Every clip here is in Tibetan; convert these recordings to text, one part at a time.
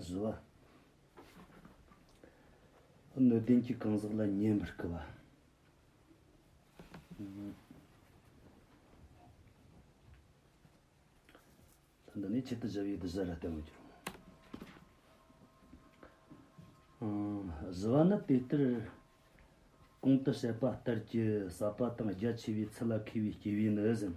བཟོ་བ། གནོད་ལྡན་གྱི་གང་ཟག་ལ་ཉན་པར་སྐུལ་བ། འདི་ནི་ཆེད་དུ་བཞག་ཡུལ་དུ་བཞག་ལ་བརྟེན་པར་འགྱུར། བཟོ་བ་ནི་དེ་ལྟར་གོང་དུ་བཤད་པ་ལྟར་གྱི་ཟབ་པ་དང་རྒྱ་ཆེ་བའི་ཚུལ་ལ་མཁས་པའི་སྐྱེ་བོས་ནི་ཟིན།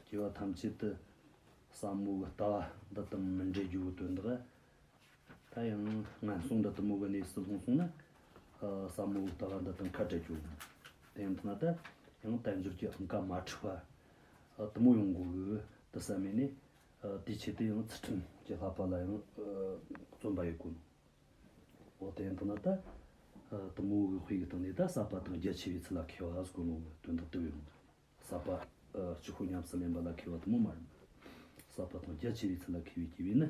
སྐྱེ་བ་ཐམས་ཅད་དུ་བསམ་བློ་གི་ལྟ་བ་འདི་དང་མི་འབྲལ་རྒྱུའི་དོན་དག་ད་ཡང་ངན་སོང་འདི་ལྟ་མུ་གི་གནས་སུ་ལྷུང་སོང་ན། བསམ་བློ་གི་ལྟ་བ་འདི་དང་ཁ་བྲལ་རྒྱུ། དེ་ཡང་ཐ་ན་ད་ཡང་དལ་འབྱོར་གྱི་ཨང་ཀ་མ་འཁྲུགས་པ་ལྟ་མུ་ཡོང་དགོས་གི་དེ་བསམ་མེད་ནས་དེའི་ཆེད་དུ་ཡང་ཚུལ་ཁྲིམས་ཀྱི་ལྷག་པ་ལ་ཡང་བརྩོན་པ་ཡོད་དགོས། དེའི་མདོར་ན་ད་དུ་མོ་དབུལ་བའི་སྟེང་ནས་ད་གསར་པ་དང་རྒྱ་ཆེ་བའི་ཚུལ་ལ་ཁེལ་བ་གཟུགས་ལོང་གི་དོན་དུ་བསྟོད་པའི་དབང་དུ། གསར་པ། ཆུ་ཁོལ་ཉམས་སུ་ལེན་པ་ལ་ཁེལ་བ་དུ་མོ་མ་རུང། གསར་པ་དང་རྒྱ་ཆེ་བའི་ཚུལ་ལ་ཁེལ་བའི་དགེ་བས་ནི།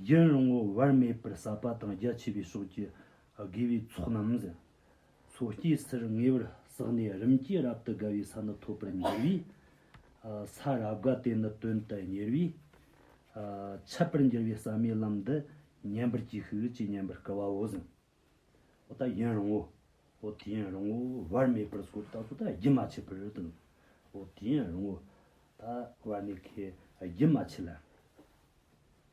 ཡུན་རིང་བོར་བར་མེད་པར་གསར་པ་དང་རྒྱ་ཆེ་བའི་ཕྱོགས་ཀྱི་དགེ་བའི་ཚོགས་རྣམས། མཚོ་སྐྱེས་སར་ངེས་པར་བསགས་ནས་རིམ་གྱིས་རབ་ཏུ་དགའ་བའི་ས་ནི་ཐོབ་པར་འགྱུར་བས། ས་རབ་དགའ་དེ་ནི་དོན་དུ་གཉེར་བས། འཆད་པར་འགྱུར་བའི་བསམ་ཡས་ལམ་འདི་ཉན་པར་གྱིས་ཤིག་ཅེས་སྙན་པར་བསྐུལ་བའོ། གཟིངས་འོ་ད་ཡིན་རུང་ངོ། འོ་དེ་ཡིན་རུང་ངོ་བར་མེད་པར་སོ་ད་གཟོད་ད་རྒྱུན་མ་ཆད་པར་དང། འོ་དེ་ཡིན་རུང་ངོ། ད་བར་མེད་ཁས་རྒྱུན་མ་ཆད་ལ།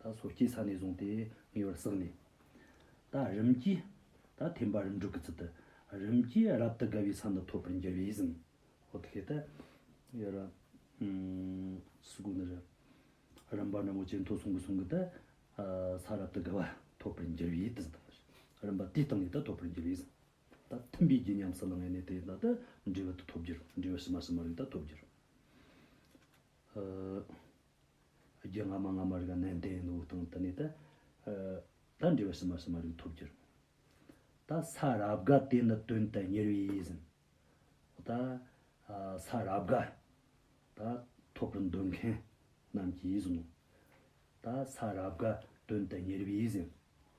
ད་སོར་སྐྱེས་ས་ནས་བཟུང་སྟེ་ངེས་པར་བསགས་ནས། ད་རིམ་གྱིས། ད་ཐེམ་པ་རིམ་དྲུག་གི་ཚུལ་དུ། རིམ་གྱིས་རབ་ཏུ་དགའ་བའི་ས་འདི་ཐོབ་པར་འགྱུར་བས་ཟིན། ཧོ་ཐི་ཀེ་ཏ། ཡ་རབ། སུ་གུ་ན་ར། རིམ་པ་རྣམས་ཀྱི་ཇེ་མཐོ་སོང་གི་སོང་གི་ད། ས་རབ་ཏུ་དགའ་བ་ཐོབ་པར་འགྱུར་བས་ཏི་ཟིན། རིམ་པ་དེའི་སྟེང་ནས་ད་ཐོབ་པར་འགྱུར་བས་ཟིན། ད་ཐིམ་པའི་རྒྱུ་ཉམས་སུ་བླང་བའི་གནས་དེ་ད་ཏི་འབྲས་བུ་ཏི་ཐོབ་འགྱུར་འབྲས་བུ་ཕྱི་མ་ཕྱི་མ་རིགས་ད་ཐོབ་འགྱུར། རྒྱུ་སྔ་མ་སྔ་མ་རིག་གནས་འདི་ཡིན་འདུག་སྟངས་དུ་ནི་ད་ལྟར་འབྲས་བུ་སུ་མ་སུ་མ་རིག་ཐོབ་རྒྱུར། ད་ས་རབ་དགའ་དེ་ནི་དོན་དུ་གཉེར་བས་ཡིད་ཟིན། ད་ས་རབ་དགའ་ད་ཐོབ་པར་འདོད་མཁན་རྣམས་ཀྱིས་ཡིད་ཟིན་ནོ། ད་ས་རབ་དགའ་དོན་དུ་གཉེར་བས་ཡིད་ཟིན།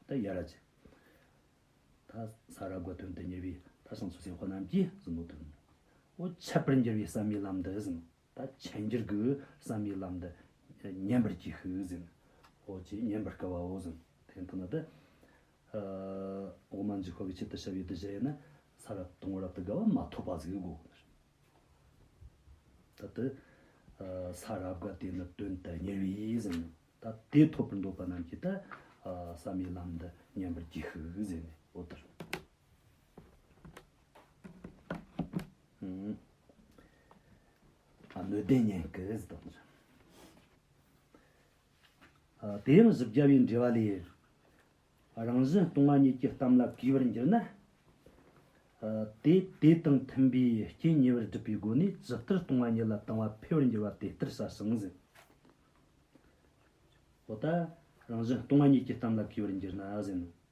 ད་ཡ་རབ་ཅན། ད་ས་རབ་དགའ་དོན་དུ་གཉེར་བས་ད་སངས་སོ་སའི་འཁོར་རྣམས་ཀྱིས་ཟིན་ནོ་དོན་ནོ། འོ་ཆད་པར་འགྱུར་བའི་བསམ་ཡས་ལམ་འདི་ཟིན་ནོ། ད་ཆེན་འགྱུར་གྱི་བསམ་ཡིག་ལམ་འདི། ཉན་པར་གྱིས་ཤིག་ཟིན། ཨོ་ཅེས་ཉན་པར་སྐལ་བ་འོ་ཟིན། དེ་ནས་ཐུགས་ན་འདི། འོག་མ་འཇིག་ཁོག་གི་ཆེད་དུ་ཞབས་ཡིག་འདི་བཞེས་ཡོད་ན། ས་རབ་དང་བོ་རབ་ཏུ་དགའ་བ་མ་ཐོབ་པ་ཟིག་གོ། ད་དེ། ས་རབ་དགའ་དེ་ནི་དོན་དུ་གཉེར་བས་ཟིན། ད་དེ་ཐོབ་པར་འདོད་པ་རྣམས་ཀྱིས་ད། བསམ་ཡིག་ལམ་འདི་ཉན་པར་གྱིས་ཤིག་ཟེར་ནས་ཨོ་ཏོ། དེ་ཡང་གཟུགས་བྱ་བའི་འབྲེལ་བ་ལས། རང་བཞིན་སྟོང་བ་ཉིད་ཀྱི་གཏམ་ལ་གུས་པར་འགྱུར་ན། དེ་དེ་དང་མཐུན་པའི་རྐྱེན་ཉེ་བར་སྒྲུབ་པའི་སྒོ་ནས་ཇི་ལྟར་སྟོང་བ་ཉིད་ལ་དང་བ་འཕེལ་བར་འགྱུར་བ་དེ་ལྟར་ས་ཟིན་ཟིན། འོ་ད་རང་བཞིན་སྟོང་བ་ཉིད་ཀྱི་གཏམ་ལ་གུས་པར་འགྱུར་ན་ཟིན་ནོ།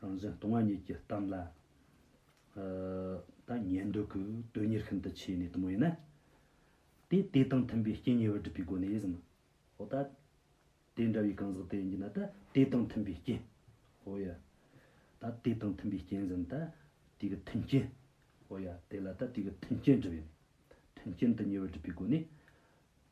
རང་བཞིན་སྟོང་བ་ཉིད་ཀྱི་གཏམ་ལ། ད་ཉན་འདོད་ཀྱི་དོན་གཉེར་ཤིན་ཏུ་ཆེ་ནས་དུ་མ་ཡིན་ན། དེས་དེ་དང་མཐུན་པའི་རྐྱེན་ཉེ་བར་སྒྲུབ་པའི་སྒོ་ནས་ཟིན་ནོ། ད་དེ་འདྲ་བའི་གང་ཟག་དེ་ཡིན་ན་ད་དེ་དང་མཐུན་པའི་རྐྱེན། ཧོ་ཡ། ད་དེ་དང་མཐུན་པའི་རྐྱེན་ཟིན་ད་དེ་གི་མཐུན་རྐྱེན། ཧོ་ཡ། དེ་ལ་ད་དེ་གི་མཐུན་རྐྱེན་བསྒྲུབ་ཡིན། མཐུན་རྐྱེན་དུ་ཉེ་བར་སྒྲུབ་པའི་སྒོ་ནས།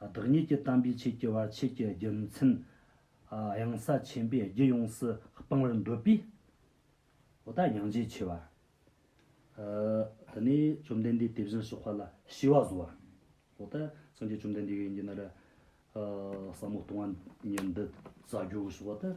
བདག་ཉིད་ཀྱི་དམ་པའི་ཆོས་ཀྱི་བར་ཆད་ཀྱི་རྒྱུ་མཚན། གཡང་ས་ཆེན་པོས་རྒྱུད་ཡོངས་སུ་སྤང་བར་འདོད་པས། འོ་ད་གཡང་རྗེ་ཆེ་བ། དེ་ནས་བཅོམ་ལྡན་འདས་དེ་བཞིན་གཤེགས་པ་ལ་ཞི་བ་བཟོ་བ། འོ་ད་སངས་རྒྱས་བཅོམ་ལྡན་འདས་གཡོན་གྱི་ནི་ར། ཟབ་མོ་སྟོང་བ་ཉིད་འདི་བཟའ་རྒྱུའོ་ཞེས་པ་ལྟར།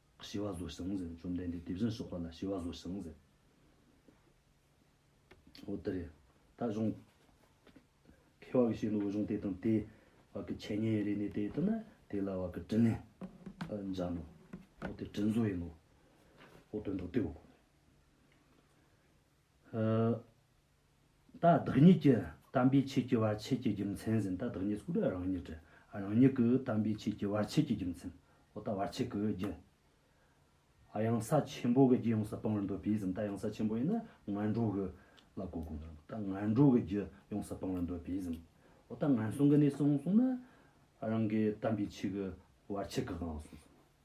ཞི་བ་བཟོ་ཞིང་ཟེར་བཅོམ་ལྡན་འདས་དེ་བཞིན་གཤེགས་པ་ལ་ཞི་བ་བཟོ་ཞིང་ཟེར། འོ་དེ་རེད། ད་གཞུང། མཁས་བ་གི་བཤད་ནོར་བུ་གཞུང་དེ་དང་དེའི། བར་གྱི་འཆད་ཉན་རེ་ནས་དེ་ལྟར་ན་དེ་ལ་བར་གྱི་དྲི་ནི། འཇགས་ནོ། འོ་དེ་དྲི་བཟོ་ཡིན་ནོ། འོ་དོན་དུ་དེའོ། ད་བདག་ཉིད་ཀྱི་དམ་པའི་ཆོས་ཀྱི་བར་ཆད་ཀྱི་རྒྱུ་མཚན་ཟིན་ད་བདག་ཉིད་སྐུ་རང་ཉིད་ཀྱི་རང་ཉིད་ཀྱི་དམ་པའི་ཆོས་ཀྱི་བར་ཆད་ཀྱི་རྒྱུ་མཚན་ཨོ་ད་བར་ཆད་ཀྱི་རྒྱུ། གཡང་ས་ཆེན་པོ་གི་རྒྱུ་ཡོངས་སུ་སྤང་བར་འདོད་པས་ཟིན་ད་གཡང་ས་ཆེན་པོ་ཡིན་ན་ངན་འགྲོ་གི་ལ་གོ་དགོས་ན་ད་ངན་འགྲོ་གི་རྒྱུ་ཡོངས་སུ་སྤང་བར་འདོད་པས་ཟིན་ཨོ་ད་ངན་སོང་གི་གནས་སོང་གསུངས་ན་རང་གི་དམ་པའི་ཆོས་ཀྱི་བར་ཆད་ཀྱི་དབང་གསུངས་སོ།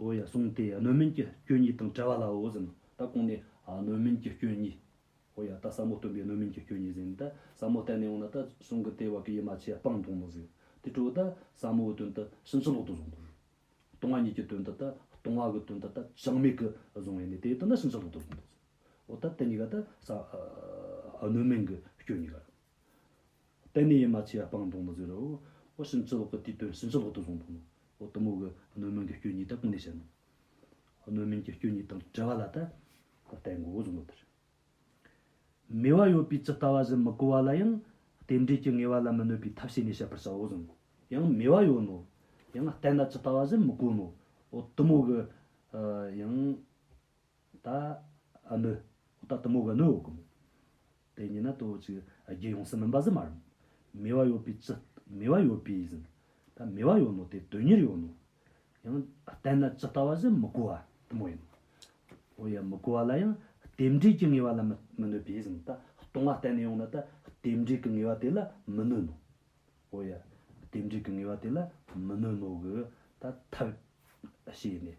ཨོ་ཡ་གསུངས་ཏེ་སྣོད་མིན་གྱི་སྐྱོན་གཉིས་དང་བྲལ་བ་ལའོ་ཟིན་ནོ། ད་གོང་ནས་སྣོད་མིན་གྱི་སྐྱོན་གཉིས། ཨོ་ཡ་ད་ཟབ་མོ་སྟོན་པའི་སྣོད་མིན་གྱི་སྐྱོན་གཉིས་ཟིན་ཏེ་ཟབ་མོ་གཏན་ནས་འོང་ན་ད་གསུང་གི་དེ་བ་གི་ཡིད་མ་ཆེས་སྤང་ལྟུང་དུ་ཟིན། དེ་སྤྲོས་ད་ཟབ་མོའི་དོན་དུ་ཕྱིན་ཅི་ལོག་ཏུ་བཟུང་དགོས། ལྟུང་བ་ཉིད་ཀྱི་དོན་དུ་ད་ལྟུང་བ་གི་དོན་དུ་ད་བྱང་མེད་གི་བཟུང་བས་ནི་དེའི་དོན་ད་ཕྱིན་ཅི་ལོག་ཏུ་བཟུང་དུ་ཟིན། ཨོ་ད་དེ་གཉིས་ཀ་ད་སྣོད་མིན་གྱི་སྐྱོན་གཉིས་ཀ་རེད། གཏན་ནས་ཡིད་མ་ཆེས་པ་སྤང་ལྟུང་མི་བཟོད་རོ། འོ་ཕྱིན་ཅི་ལོག་གི་དུས་དོན་ཕྱིན་ཅི་ལོག་ཏུ་བཟུང་དོ། འོ་གཏུམ་མོ་གི་སྣོད་མིན་གྱི་སྐྱོན་གཉིས་དག་གང་ནས་བཤད་ནོ། སྣོད་མིན་གྱི་སྐྱོན་གཉིས་དང་བྲལ་བ་ལ་ད་ལྟའི་མགོ་བོ་བཟུང་བ་ལྟར། མོས་བ་ཡོད་པས་ཇི་ལྟ་བ་བཞིན་མི་གོ་བ་ལ་ཡང་རྟེན་འབྲེལ་གྱི་ངེས་བ་ལ་མི་གནོད་པའི་ཐབས་བྱས་ནས་བཤད་པར་བྱའོ་བཟུང་ངོ། ཡང་མོས་བ་ཡོད་ནོ། ཡང་བལྟས་ན་ཇི་ལྟ་བ་བཞིན་མི་གོ་ནོ། འོ་གཏུམ་མོ་གི། ཡང། ད་ནི། ད་ལྟ་མོ་བ་ནི་འོ་གུམ། དེ་ཉིད་ན་དོ་ཅིག་རྒྱལ་ཡོངས་སུ་མིན་པ་ཟིན་མ་རུང། མེ་བ་ཡོད་པའི་ཅི། མེ་བ་ཡོད་པའི་ཟིན། ད་མེ་བ་ཡོད་ནོ་དེ་དོན་གཉེར་ཡོད་ནོ། ཡང་བསྟན་ན་ཇི་ལྟ་བ་བཞིན་མི་གོ་བ་དུ་མོ་ཡིན། འོ་ཡ་མི་གོ་བ་ལ་ཡང་རྟེན་འབྲེལ་གྱི་ངེས་པ་ལ་མི་གནོད་པས་ཟིན་ད་སྟོང་བ་བསྟན་ནས་ཡོང་ན་ད་རྟེན་འབྲེལ་གྱི་ངེས་པ་དེ་ལ་མི་གནོད་ནོ། འོ་ཡ་རྟེན་འབྲེལ་གྱི་ངེས་པ་དེ་ལ་མི་གནོད་ནོ་གི་ད་ཐབས། བྱས་ནས་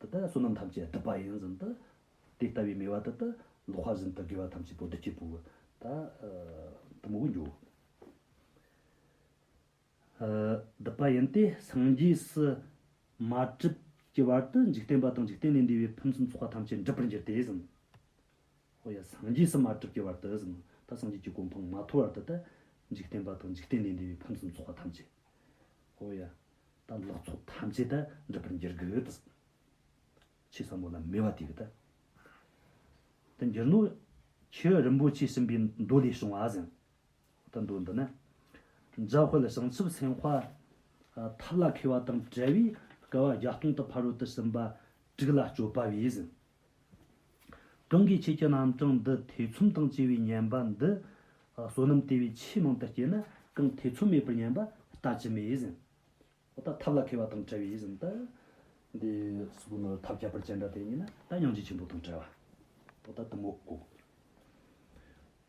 འདི་ལྟར་བསོད་ནམས་ཐམས་ཅད་བསྡུ་བ་ཡིན་ཟིན་ཏོ། དེ་ལྟ་བུའི་མོས་པ་འདི་ལྟར་ལོག་པར་ཟིན་ཏོ་དགེ་བ་ཐམས་ཅད་པོ་བདུད་ཀྱི་བུ། ད་དུ་མོ་བུ་འགྱུར། བསྡུ་བ་ཡིན་ཏེ་སངས་རྒྱས་སུ་མ་གྲུབ་ཀྱི་བར་དུ་འཇིག་རྟེན་པ་དང་འཇིག་རྟེན་ལས་འདས་པའི་ཕུན་སུམ་ཚོགས་པ་ཐམས་ཅད་འགྲུབ་པར་འགྱུར་ཏེ་ཟིན། ཧོ་ཡ། སངས་རྒྱས་སུ་མ་གྲུབ་ཀྱི་བར་དུ་ཟིན། ད་སངས་རྒྱས་ཀྱི་གོ་འཕང་མ་ཐོབ་བར་དུ་ད་འཇིག་རྟེན་པ་དང་འཇིག་རྟེན་ལས་འདས་པའི་ཕུན་སུམ་ཚོགས་པ་ཐམས་ཅད། ཧོ་ཡ། དང་ལོག་འཚོ་ཐམས་ཅད་དུ་འགྲུབ་པར་འགྱུར་གྱི། ཆོས་ཟབ་མོ་རྣམས་མོས་པ་དེ་ལྟ་དུ་འགྱུར་ནོ། ཆོས་རིན་པོ་ཆེ་གསུམ་པའི་མདོ་ལས་བྱུང་བ་བཞིན་དུ་མདོ་འདི་ནི། འཇའ་ཧོལ་བྱང་ཆུབ་སེམས་དཔའ་ཐབས་ལ་མཁས་པ་དང་བྲལ་བས་དགའ་བ་བརྒྱ་སྟོང་དུ་ཕ་རོལ་ཏུ་ཕྱིན་པ་དྲུག་ལ་སྤྱོད་པ་བས་བཞིན་གང་གིས་ཁྱེད་ཀྱི་རྣམ་གྲངས་འདི་ཐེ་ཚོམ་དང་བཅས་པའི་ཉན་པ་འདི་བསོད་ནམས་དེ་བས་ཆེས་མང་དུ་སྐྱེད་ན་གང་ཐེ་ཚོམ་མེད་པར་ཉན་པ་ལྟ་ཅི་སྨོས་ཟིན། འོ་ད་ཐབས་ལ་མཁས་པ་དང་བྲལ་བས་ཟིན་ཏེ། འདི་སོགས་ནི་ཐབས་ཁྱད་པར་ཅན་འདྲ་སྟེ་ཉན་ན་ད་སྙིང་རྗེ་ཆེན་པོ་དང་བྲལ་བ། འོ་ད་དུ་མོ་བཀོག།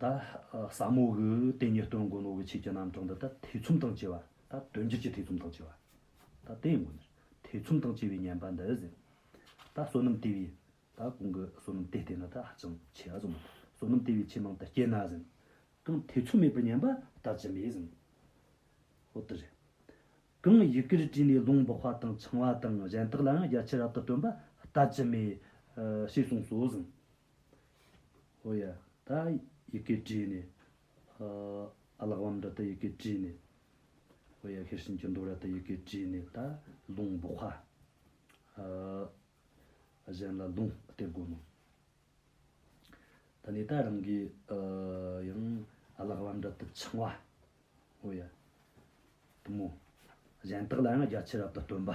ད་ས་མོ་གི་ཏེ་ཉེར་སྟོན་མགོན་ནོ་གི་ཆེད་ཀྱི་རྣམ་གྲངས་འདི་ད་ཐེ་ཚོམ་དང་བཅས་པ་ད་དོན་གྱིར་གྱི་ཐེ་ཚོམ་དང་བཅས་པ་ད་དེ་མགོན་ནོ་ཐེ་ཚོམ་དང་བཅས་པའི་བསྙེན་པ་འདི་ཟེར་རོ། ད་བསོད་ནམས་ལྟེ་བའི་ད་གོང་གི་བསོད་ནམས་ལྟེ་བསྟེན་ན་ད་ཧ་ཅང་ཆེ་བ་ཙམ་མོ། བསོད་ནམས་ལྟེ་བའི་ཆེ་མང་དུ་སྐྱེད་ན་ཟིན། གང་ཐེ་ཚོམ་མེད་པར་བསྙེན་པ་ད་ཅི་མེད་ཟིན། ཧོ་ཏི་རེ། གང་ཡི་གེར་བྲིས་ནས་ལུང་འབོགས་པ་དང་འཆང་བ་དང་གཞན་དག་ལའང་རྒྱ་ཆེར་རབ་ཏུ་སྟོན་པ་ད་ཅི་མེད། ཞེས་གསུངས་སོ་ཟིན། ཨོ་ཡ། ད་ཡི་གེ་བྲིས་ནས། ཨ་ལགས་བམ་ར་ད་ཡི་གེ་བྲིས་ནས། ཨོ་ཡ་ཤེར་ཕྱིན་གྱི་མདོ་ར་ད་ཡི་གེ་བྲིས་ནས་ད་ལུང་འབོག་ཧ། གཞན་ལ་ལུང་སྟེར་དགོས་མོད། ད་ནི་ད་རང་གི་ཡང་ཨ་ལགས་བམ་ར་ད་འཆང་བ། ཨོ་ཡ། བུ་མོ། གཞན་དག་ལའང་རྒྱ་ཆེ་རབ་ཏུ་སྟོན་པ།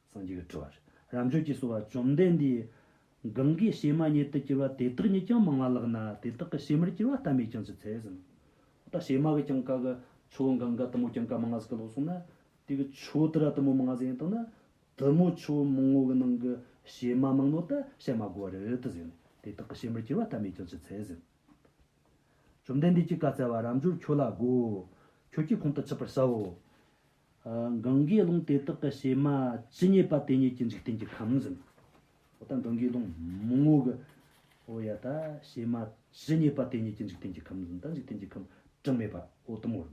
སངས་རྒྱས་ཀྱི་སྤྲུལ་བ། རབ་མཆོག་ཅེས་གསོལ་བ་བཅོམ་ལྡན་འདས། གང་གིས་གཤེད་མ་ཉིད་དུ་གྱུར་པ་དེ་དག་ཉིད་ཀྱང་མང་བ་ལགས་ན་དེ་དག་གི་གཤེད་མར་གྱུར་བ་ལྟ་མོད་ཀྱང་ཅི་འཚལ་ཟིན་ནོ། ད་གཤེད་མ་གི་ཀྱང་བཀའ་གི་ཆོས་བུམ་གང་ག་དུ་མོ་ཀྱང་བཀའ་མ་ང་ཟིག་གི་ལོགས་སོང་ན། དེ་གི་ཆོས་དེ་ར་དུ་མོ་མ་ང་ཟིག་ཡིན་དང་ན། དུ་མོ་ཆོས་མང་བོ་གི་ནང་གི་གཤེད་མ་མང་ནོ་ད་གཤེད་མ་དགོ་བ་རེད་དུ་ཟིན་ནས་དེ་དག་གི་གཤེད་མར་གྱུར་བ་ལྟ་མོད་ཀྱང་ཅི་འཚལ་ཟིན་ནོ། བཅོམ་ལྡན་འདས་ཀྱིས་བཀའ་སྩལ་པ་རབ་འབྱོར་ཁྱོད་ལ་བསྒོའོ། ཁྱོད་ཀྱིས་ཁོང་དུ་ཆུད་པར་བྱའོ། གངས་དགེ་སློང་དེ་དག་གི་བྱེ་མ་ཇི་སྙེད་པ་དེ་སྙེད་ཀྱི་འཇིག་རྟེན་གྱི་ཁམས་ཟིན། འོ་ད་གངས་དགེ་སློང་མོ་ངོ་གི། འོ་ཡ་ད་བྱེ་མ་ཇི་སྙེད་པ་དེ་སྙེད་ཀྱི་འཇིག་རྟེན་གྱི་ཁམས་ཟིན་ད་འཇིག་རྟེན་གྱི་ཁམས་གྲངས་མེད་པ་འོ་དམ་བོར།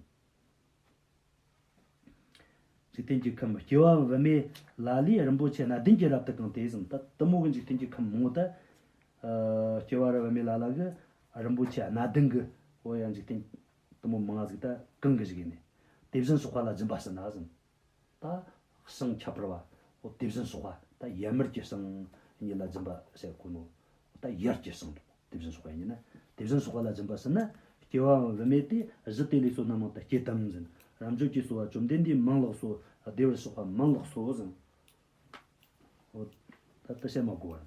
འཇིག་རྟེན་གྱི་ཁམས་སྐྱེ་བ་བི་མའི་ལ་ལས་རིན་པོ་ཆེ་སྣ་བདུན་གྱི་རབ་ཏུ་གང་དེ་ཟིན་ད་དམ་བོ་གི་འཇིག་རྟེན་གྱི་ཁམས་མང་བོ་ད། སྐྱེ་བ་རི་བི་མའི་ལ་ལ་གི་རིན་པོ་ཆེ་སྣ་བདུན་གི་འོ་ཡ་འཇིག་རྟེན་གཏུམ་མོ་མང་གཟིགས་ལྟ་གང་གིས་བཞིགས་ནས། དེ་བཞིན་སོགས་པ་ལ་སྦྱིན་པ་ཟིན་ན་ཟིན། ད་ཞིང་ཁྱད་པར་བ། དེ་བཞིན་སོགས་པ་ད་ཡར་མར་གྱི་ཞིང་གཉིས་ལ་སྦྱིན་པ་བྱེད་དགོས་ནོ། ད་ཡར་གྱི་ཞིང་དང་དེ་བཞིན་སོགས་པ་གཉིས་ནི་དེ་བཞིན་སོགས་པ་ལ་སྦྱིན་པ་ཟིན་ན་སྐྱེ་བའང་དབུ་མེད་དེ་གཞི་དེ་ལས་སོ་ན་མང་དུ་སྐྱེ་དམ་ཟིན། རབ་འབྱོར་གྱིས་གསོལ་བ་བཅོམ་ལྡན་འདས་མང་ལགས་སོ། བདེ་བར་གཤེགས་པ་མང་ལགས་སོ་ཟིན། ད་ཏི་བཤད་མ་དགོས་པར།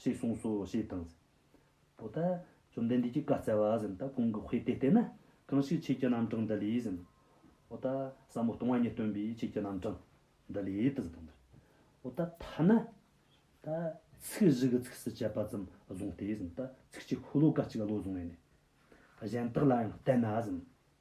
ཞེས་གསུངས་སོ་ཞེས་དང། པོ་ཏཱ། བཅོམ་ལྡན་འདས་ཀྱིས་བཀའ་སྩལ་པ། ཟིན་ཏཱ་གུང་གི་དཔེ་དེ་ལྟས་ན། གང་ཞིག་ཆོས་ཀྱི་རྣམ་གྲངས་འདི་ལས། ཟིན། པོ་ཏཱ། ཟབ་མོ་སྟོང་བ་ཉིད་སྟོན་པའི་ཆོས་ཀྱི་རྣམ་གྲངས། འདི་ལས་ཏེ་ཟིན་ཏོ། འདིར། པོ་ཏཱ། ཐ་ན། ཏཱ། ཚིག་བཞི་གི་ཚིགས་སུ་བཅད་པ་ཙམ་བཟུང་སྟེ། ཟིན་ཏཱ། ཚིག་གཅིག་ཧུ་ལོ་ཀ་གཅིག་བློ་བཟུང་བས་ནི། གཞན་དག་ལ་ཡང་བལྟས་ན། ཟིན།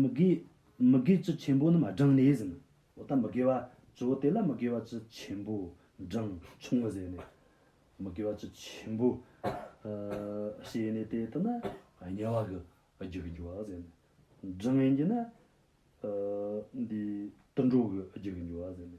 མི་དགེ། མི་དགེ་བཅུ་ཆེན་པོ་རྣམས་བགྲངས་ནས་ཟིན། འོ་ད་མི་དགེ་བ་བཅུ་བོ་དེ་ལ་མི་དགེ་བ་བཅུ་ཆེན་པོ་བགྲངས་ཆུང་ངུ་ཟེར་ནས། མི་དགེ་བ་བཅུ་ཆེན་པོ། ཞེས་ནས་དེ་ལྟར་ན་དམྱལ་བ་གི་རྒྱུ་གི་འགྱུར་བ་ཟེར་ནས། བགྲངས་ཡིན་གྱི་ན། འདི་དུད་འགྲོ་གི་རྒྱུ་གི་འགྱུར་བ་ཟེར་ནས།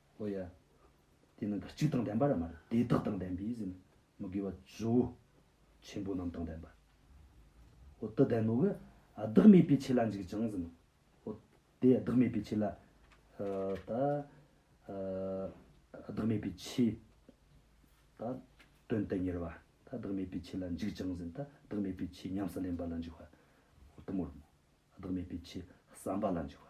ཨོ་ཡ། དེ་ནི་འདི་གཅིག་དང་ལྡན་པ་ར་མ་རེད་དེ་དག་དང་ལྡན་པས་ཟིན། མི་དགེ་བ་བཅུ། ཆེན་པོ་རྣམས་དང་ལྡན་པ། ཨོ་དེ་ལྡན་ནོ་གི། བདག་མེད་པའི་ཆོས་ལ་འཇུག་ཅིང་ཟིན། ཨོ། དེ་བདག་མེད་པའི་ཆོས་ལ། ད། བདག་མེད་པའི་ཆོས། ད། དོན་དུ་གཉེར་བ། ད་བདག་མེད་པའི་ཆོས་ལ་འཇུག་ཅིང་ཟིན། ད་བདག་མེད་པའི་ཆོས་ཉམས་སུ་ལེན་པ་ལ་འཇུག་བ། ཨོ་དུ་མོ་རུ་མོ། བདག་མེད་པའི་ཆོས་བསམ་པ་ལ་འཇུག་བ།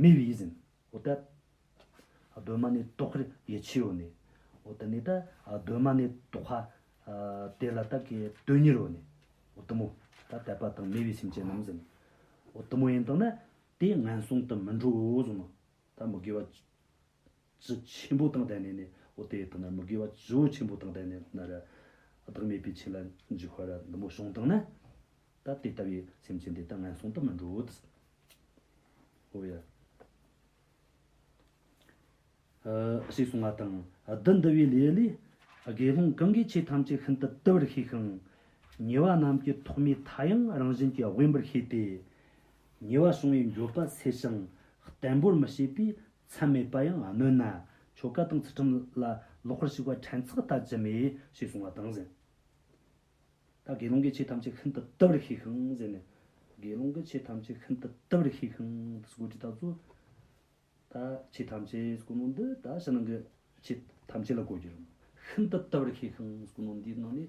མེ་བི་ཟིན། འོ་ད། གདོད་མ་ནས་རྟོག་གེར་ཡེ་ཆེའོ་ནས། འོ་ད་ནི་ད། གདོད་མ་ནས་རྟོག་ཧ། དེ་ལ་ད་གེ་དོན་གཉེར་རོ་ནས། འོ་ད་མོ། ད་དད་པ་དང་མེ་བི་སེམས་ཅན་རྣམས་ཟིན། འོ་ད་མོ་ཡིན་དང་ན། དེ་ངན་སོང་དུ་མི་འགྲོའོ་གསུངས་ནོ། ད་མི་དགེ་བ། བཅུ་ཆེན་པོ་དང་ལྡན་ནས་ནི་འོ་དེ་དག་ན་མི་དགེ་བ་བཅུ་ཆེན་པོ་དང་ལྡན་ནས་ན་རེ། བདག་མེད་པའི་ཆོས་ལ་འཇུག་བར་འདི་མོ་བྱུང་དང་ན། ད་དེ་ལྟ་བུའི་སེམས་ཅན་དེ་དག་ངན་སོང་དུ་མི་འགྲོ་འོད་ཟེར། ཧོ་ཡ། ཞེས་གསུང་བ་དང། བདུད་འདུལ་བའི་ལས་ལས། དགེ་སློང་གང་གིས་ཆོས་ཐམས་ཅད་ཤིན་ཏུ་བལྟ་བར་ཤེས་ཤིང། ཉེ་བ་རྣམས་ཀྱི་ཐོག་མའི་མཐའ་ཡང་རང་བཞིན་གྱིས་དབེན་པར་ཤེས་ཏེ། ཉེ་བར་བྱུང་བའི་འགྱོད་པ་སེལ་ཞིང་བརྟན་པོར་མི་བྱེད་པའི་མཚམས་མེད་པ་ཡང་གནོད་ན། ཆོ་ག་དང་ཚུལ་ཁྲིམས་ལ་ལོག་པར་ཞུགས་པ་ཕྲན་ཚེགས་ལྟ་ཅི་སྨོས་ཞེས་གསུང་བ་དང། ད་དགེ་སློང་གིས་ཆོས་ཐམས་ཅད་ཤིན་ཏུ་བལྟ་བར་ཤེས་ཤིང་ཟེར་ནས། དགེ་སློང་གིས་ཆོས་ཐམས་ཅད་ཤིན་ཏུ་བལྟ་བར་ཤེས་ཤིང་དུ་སྒོ་ཁྲི་དག་བཙུགས། ད་ཆོས་ཐམས་ཅད་སྐུ་ནོ་འདི་ད་ཕྱི་ནང་གི་ཆོས་ཐམས་ཅད་ལ་གོ་རྒྱུར་ཤིན་ཏུ་བལྟ་བར་ཤེས་ཤིང་སྐུ་ནོ་འདིའི་ནང་ནས།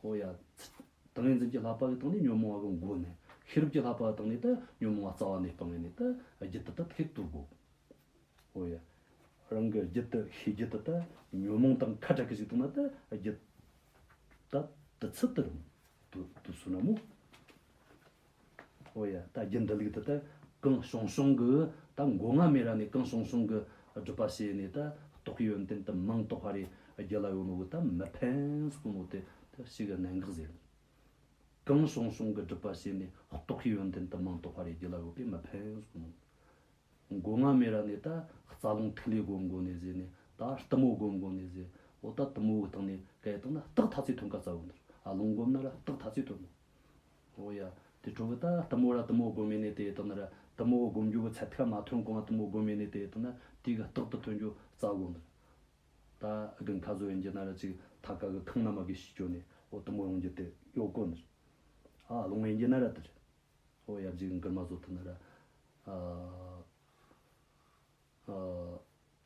ཧོ་ཡ། ཏིང་ངེ་འཛིན་གྱི་ལྷག་པ་གི་སྟེང་ནས་ཉོན་མོངས་པ་གི་མགོ་ནས། ཤེས་རབ་ཀྱི་ལྷག་པ་གི་སྟེང་ནས་ཏེ་ཉོན་མོངས་པ་རྩ་བ་ནས་སྤང་བས་ནས་ཏེ་རྒྱུད་དུ་ཏེ་ཐེག་དུག་གོ། ཧོ་ཡ། རང་གི་རྒྱུད་དུ་ཤེས་རྒྱུད་དུ་ཏེ་ཉོན་མོངས་དང་ཁ་དྲག་གི་ཞིག་ཏུ་ན་ཏེ་རྒྱུད་དུ་ཏེ་དུ་ཚུད་དུ་རུང་དུ་དུ་སུ་ན་མོ། ཨོ་ཡ། ད་རྒྱུ་འདི་ལུགས་དེ་ལྟར་གང་བྱུང་བྱུང་གི་ད་མགོ་རྔ་མེད་ར་ནས་གང་བྱུང་བྱུང་གི་སྒྲུབ་པ་བྱས་ནས་ད་རྟོགས་ཡོན་ཏན་དུ་མིང་རྟོགས་པ་རེ་རྒྱུ་ལ་ཡོང་བའི་ད་མི་ཕན་གསུང་བ་དེ་ད་ཞིག་གནད་འགག་ཟེར། གང་བྱུང་བྱུང་གི་སྒྲུབ་པ་བྱས་ནས་རྟོགས་ཡོན་ཏན་དུ་མིང་རྟོགས་པ་རེ་རྒྱུ་ལ་ཡོད་པས་མི་ཕན་གསུང་ངོ། མགོ་རྔ་མེད་ར་ནས་ད་རྩ་རླུང་ཐིག་ལེའི་སྒོ་མགོ་ནས་ཟེར་ནས་ད་གཏི་མུག་སྒོ་མགོ་ནས་ཟེར་ཨོ་ད་གཏི་མུག་གི་སྟེང་ནས་སྐད་བཏང་ན་རྟགས་ཐ་ཚིག་ཐོན་ཁ་ཚ་བོ་འདུག་ཨ་རླུང་སྒོམ་ན་ར་རྟགས་ཐ་ཚིག་ཐོན་ནོ། ཨོ་ཡ། དེ་ཁྲོ་བོ་ད་ལྟ་མོ་ར་ལྟ་མོ་སྒོམ་མེད་ནས་དེ་ལྟ་ན་ར་ལྟ་མོ་སྒོམ་རྒྱུ་བོ་ཚད་ཐིག་ལ་མ་ཐོན་གོང་ལ་ལྟ་མོ་སྒོམ་མེད་ནས་དེ་ལྟ་ན་དེ་ག་རྟག་ཏུ་ཐོན་རྒྱུ་རྩ་སྒོམ་དང། ད་གི་མཐའ་བཟོ་ཡིན་གྱི་ན་ར་ཅིག་ཐ་ག་གི་ཁང་ན་མ་གི་ཤི་ཅོ་ནས་ཨོ་ལྟ་མོ་ཡོང་རྒྱུ་དེ་གཡོ་བསྐོ་ནི་རེད། ཨ་ལོང་ཡིན་གྱི་ན་ར་དེ་རེད། ཨོ་ཡ་བརྗིད་གི་འགིར་མ་བཟོ་ཐུབ་ན་ར། ཨ།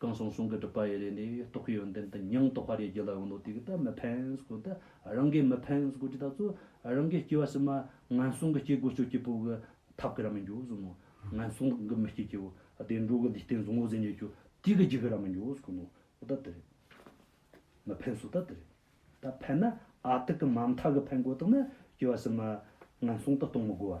གང་གསུང་གསུང་གི་སྒྲུབ་པ་ཡི་རེ་ནས་རྟོག་གི་ཡོན་ཏན་དུ་མྱང་རྟོགས་པ་རེ་རྒྱུ་ལ་འོ་ནོ་དེ་གི་ད་མི་ཕན་སྐོར་ད་རང་གི་མི་ཕན་སྐོར་ཅི་ད་གཙོ་རང་གི་སྐྱེ་བ་ཕྱི་མ་ངན་སོང་གི་སྐྱེ་སྒོ་སྤྱོད་སྐྱེ་པོ་གི་ཐབས་ཀི་ར་མི་འགྱུར་ཟིན་ནོ་ངན་སོང་གི་མི་སྐྱེ་སྐྱེ་བོ་བདེ་འགྲོ་གི་ལུས་རྟེན་བཟང་བོ་ཟིན་རྒྱུ་ཆོ་དེ་གི་རྒྱུ་གི་ར་མི་འགྱུར་སྐོར་ནོ་འོ་ད་དེ་རེད། མི་ཕན་སོ་ད་དེ་རེད། ད་ཕན་ན་ཨ་ཏི་གི་མ་མཐའ་གི་ཕན་གོ་དག་ན་སྐྱེ་བ་ཕྱི་མ་ངན་སོང་དུ་གཏོང་མི་དགོ་བ།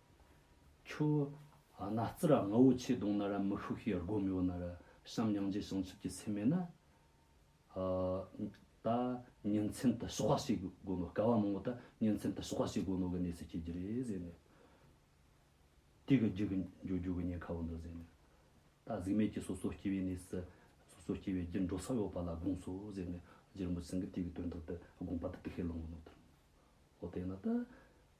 ཁྱོ། ཨ་ན་ཙི་ར་རྔ་བོ་ཆེ་གདོང་ན་ར་མི་ཤུགས་ཤིག་ཡར་སྒོ་མི་བོ་ན་ར་བྱམས་སྙིང་རྗེ་བྱང་ཆུབ་ཀྱི་སེམས་མེད་ན། ཨ། ད། ཉིན་མཚན་དུ་ཞོགས་པ་བྱེད་དགོས་ནོ་སྐལ་བ་མང་བོ་ད་ཉིན་མཚན་དུ་ཞོགས་པ་བྱེད་དགོས་ནོ་གི་གནས་ཚུལ་སྐྱེལ་གྱི་རེད་ཟེར་ནས། དུས་ཀྱི་རྒྱུ་གི་འབྱོར་རྒྱུ་གི་ཉེན་ཁ་བོ་འདུག་ཟེར་ནས། ད་གཟིགས་མེད་ཀྱི་སོ་སོ་སྐྱེ་བའི་གནས་སུ། སོ་སོ་སྐྱེ་བའི་རྒྱུ་འགྲོ་ས་ཡོད་པ་ལ་དགོངས་སོ་ཟེར་ནས་རྗེ་རིན་པོ་ཆེ་ཚང་གི་དུས་ཀྱི་དོན་དག་དུ་དགོངས་པ་དུ་དེ་ཤེས་ལོང་ངོ་ནོ་ད། འོ་དེས་ན་ད།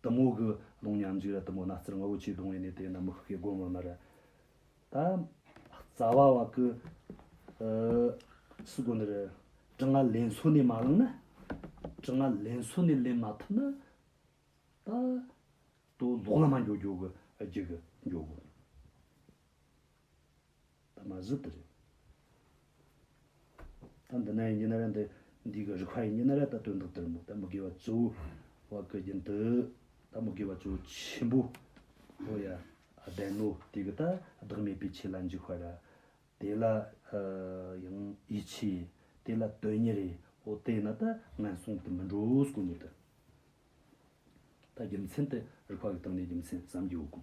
གཏུམ་མོ་གི་ལུང་ཉམས་འཇིགས་ལ་གཏུམ་མོ་སྣ་རྩེར་ངོ་བོ་ཆེས་གདུང་བའི་གནས་དེ་རྣམས་མི་ཤུགས་ཀྱིས་བསྒོམ་བར་མ་རེ་ད། རྩ་བ་བ་ཀུ། སུ་དགོ་ནི་རེ། དྲི་ང་ལན་ཚོ་ནས་མ་བླངས་ན། དྲི་ང་ལན་ཚོ་ནས་ལེན་མ་ཐུབ་ན། ད། དུ་ལོག་ལ་མ་འགྱོ་འགྱོ་གི་རྒྱུ་གི་འགྱོ་གི། ད་མ་གཟིགས་དེ་རེད། ད་འདི་ན་ཡི་ཉི་ན་རེ་འདི་འདི་གི་རི་ཁ་ཡི་ཉི་ན་རེ་ད་དོན་དག་དེར་མོ་ད་མི་དགེ་བ་གཙོ་བོ་བ་ཀི་རྒྱུན་དུ་ད་མི་དགེ་བ་གཙོ་བོ་ཆེན་པོ་བོ་ཡ་བདེན་ནོ་དེ་གི་ད་བདག་མེད་པའི་ཆེད་ལ་འཇིགས་བར་ར་དེ་ལ་ཡང་ཡིད་ཆེས་དེ་ལ་དོན་ཉི་རེ་འོ་དེ་ན་ད་ངན་སོང་དུ་མི་འགྲོ་སྐུ་ཉིད་དུ། ད་རྒྱུ་མཚན་དེ་རི་ཁ་གི་སྟེང་ནས་རྒྱུ་མཚན་བསམ་རྒྱུ་འོ་སྐུ།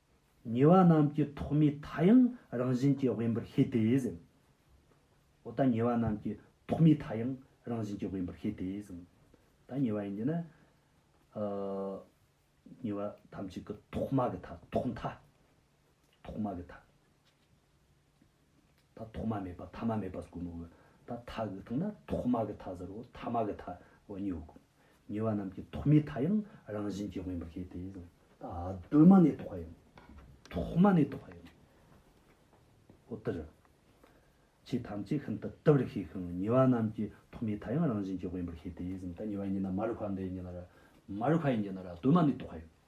ཉེ་བ་རྣམས་ཀྱི་ཐོག་མའི་མཐའ་ཡང་རང་བཞིན་གྱིས་དབེན་པར་ཤེས་ཏེ་གཟིགས། འོ་ད་ཉེ་བ་རྣམས་ཀྱི་ཐོག་མའི་མཐའ་ཡང་རང་བཞིན་གྱིས་དབེན་པར་ཤེས་ཏེ་གཟིགས། ད་ཉེ་བ་ཡིན་གྱི་ན། ཉེ་བ་ཐམས་ཅད་ཀྱི་ཐོག་མ་གི་མཐའ། ཐོག་མཐའ། ཐོག་མ་གི་མཐའ། ཐོག་མ་མེད་པ་ཐ་མ་མེད་པ་ཟེར་གོ་མི་འོས། ད་མཐའ་གི་མཐའ་ན་ཐོག་མ་གི་མཐའ་ཟེར་རོ་ཐ་མ་གི་མཐའ་འོ་ཉི་འོ་གོ། ཉི་བ་རྣམས་ཀྱི་ཐོག་མའི་མཐའ་ཡང་རང་བཞིན་གྱིས་དབེན་པར་བཤད་དེ། ད་གདོད་མ་ནས་ཐོག་ཡང་ཐོག་མ་ནས་ཐོག་ཡང་འོ་དེར། ཆོས་ཐམས་ཅད་ཤིན་ཏུ་དུལ་བར་ཤེས་ཤིང་ཉི་བ་རྣམས་ཀྱི་ཐོག་མའི་མཐའ་ཡང་རང་བཞིན་གྱིས་དབེན་པར་བཤད་དེ། ད་ཉི་བ་ཉིད་ན་མ་རིག་པ་འདི་ཡི་ཉིད་ན་ར། མ་རིག་པ་ཡི་ཉིད་ན་ར་གདོད་མ་ནས་ཐོག་ཡང།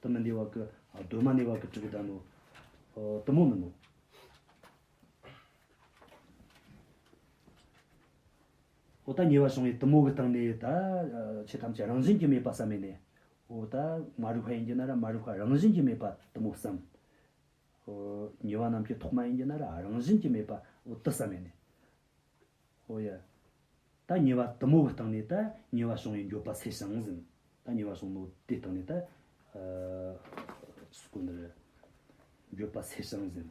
དུ་མི་འདི་བ་ཀི། གདོད་མ་ནི་བ་ཀི་དྲི་གི་ད་ནོ། དུ་མོ་མི་ནོ། འོ་ད་ཉེ་བར་བྱུང་བའི་དུ་མོ་གི་སྟེང་ནས་ད་ཆོས་ཐམས་ཅད་རང་བཞིན་གྱིས་མེད་པ་བསམ་མེད་ནས། འོ་ད་མ་རིག་བ་ཡིན་གྱི་ན་ར་མ་རིག་བ་རང་བཞིན་གྱིས་མེད་པ་དུ་མོ་བསམ། ཉེ་བ་རྣམས་ཀྱི་ཐོག་མ་ཡིན་གྱི་ན་ར་རང་བཞིན་གྱིས་མེད་པ་འོ་དུ་བསམ་མེད་ནས། ཨོ་ཡ། ད་ཉེ་བ་དུ་མོ་བའི་སྟེང་ནས་ད་ཉེ་བ་བྱུང་བའི་འགྱོད་པ་སེལ་ཞིང་ཟིན། ད་ཉེ་བ་བྱུང་ནོ་དེའི་སྟེང་ནས་ད། སྐུ་འདིར། འགྱོད་པ་སེལ་ཞིང་ཟིན།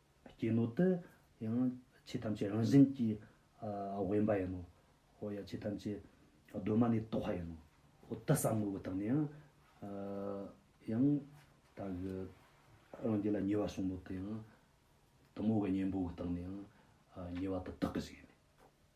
སྐྱེས་ནོ་ཏི་ཡང་ཆོས་ཐམས་ཅད་རང་བཞིན་གྱིས་དབེན་པ་ཡིན་ནོ། ཧོ་ཡང་ཆོས་ཐམས་ཅད་གདོད་མ་ནས་རྟོགས་པ་ཡིན་ནོ། ཧོ་ཏི་བསམ་ངོ་བོ་དག་ནི་ཡང་དག་གི་རང་རྒྱུད་ལ་ཉེ་བར་བཟུང་ནོ་ཏི་ཡང་དུ་མོ་བའི་གཉེན་པོ་དག་ནི་ཡང་ཉེ་བ་དུ་དག་གི་ཞིག་ཡིན་ནོ།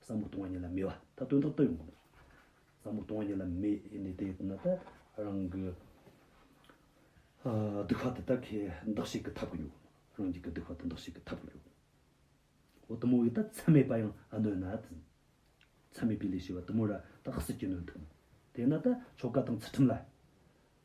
བསམ་བློ་གཏོང་བ་ཉིད་ལ་མེད་པ་ད་དོན་དག་ཏུ་ཡོང་གི་འདུག་བསམ་བློ་གཏོང་བ་ཉིད་ལ་མེད་ཡིན་ནི་དེ་ན་ད་རང་གི་སྡུག་ཧ་དེ་དག་གི་འདག་ཤེད་ཀྱི་འཐབ་ཀྱི་ཡོད་རང་རྒྱུད་ཀྱི་སྡུག་ཧ་དེ་འདག་ཤེད་ཀྱི་འཐབ་ཀྱི་ཡོད་འོ་དུ་མོ་ཡིས་ད་ཚད་མེད་པ་ཡང་གནོད་ན་ད་ཚད་མེད་པའི་ལས་བྱེད་པ་དུ་མོ་ར་ད་ཧ་སི་ཀྱི་གནོད་འདུག་དེ་ན་ད་ཆོ་ག་དང་ཚུལ་ཁྲིམས་ལ་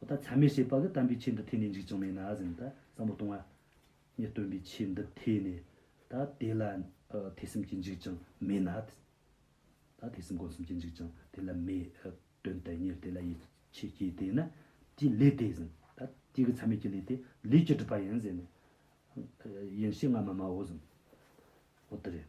ཨོ་ད་ཆ་མེ་ཤེས་པ་གི་དམ་པའི་ཆོས་འདི་ཐོས་ནས་འཇིགས་ཀྱང་མེད་ན་ཟིན་ད་ཟབ་མོ་གཏོང་ཨ། ངས་སྟོན་པའི་ཆོས་འདི་ཐོས་ནས་ད་དེ་ལ་ཐོས་སེམས་ཀྱིས་འཇིགས་ཀྱང་མེད་ན་ད་ཐོས་སེམས་སྒོམ་སེམས་ཀྱིས་འཇིགས་ཀྱང་དེ་ལ་མེད། དོན་དུ་གཉེར་དེ་ལ་ཡིད་ཆེས་སྐྱེས་དེས་ན་དེའི་ལས་དེ་ཟིན་ད་དེ་གི་ཚད་མེད་ཀྱི་ལས་དེ་ལས་ཀྱི་སྒྲུབ་པ་ཡིན་ཟེར་ནས་ཡིན་ཞེས་ང་མ་སྨྲའོ་ཟིན། ཨོ་དེ་རེད།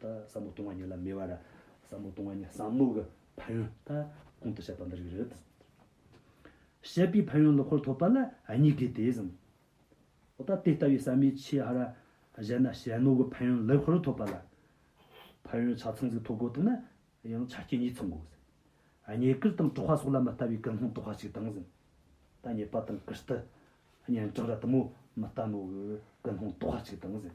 ད་ཟབ་མོ་སྟོང་བ་ཉིད་ལ་མེ་བ་ར། ཟབ་མོ་སྟོང་བ་ཉིད་ཟབ་མོ་གི་ཕ་ཡོན་ད་གོང་དུ་བཤད་པ་འདི་རིགས་རེད། བཤད་པའི་ཕ་ཡོན་ལོ་འཁོར་ཐོབ་པ་ལ་གཉིས་དགོས་ཏེ་གསུངས། ད་དེ་ལྟ་བུའི་ཟབ་མོའི་ཆོས་ཧ་ར་བཞེད་ན་ཞལ་ནོར་གྱི་ཕ་ཡོན་ལོ་འཁོར་ཐོབ་པ་ལ། ཕ་ཡོན་ཆ་ཚང་ཟིག་ཐོབ་དགོས་དོན་ན་ཡང་ཆ་རྐྱེན་གཉིས་ཚང་དགོས། ཉེས་དཀར་དང་དཀྲུག་བ་སོགས་ལ་མི་ལྟ་བའི་ཀུན་སློང་དཀྲུག་བ་ཞིག་དང་གསུངས། ད་ཉེས་པ་དང་ཀུ་ཤྟི། གཉེན་གྲོགས་ར་དུ་མོ་མི་ལྟ་མོ་གི་ཀུན་སློང་དཀྲུག་བ་ཞིག་དང་གསུངས།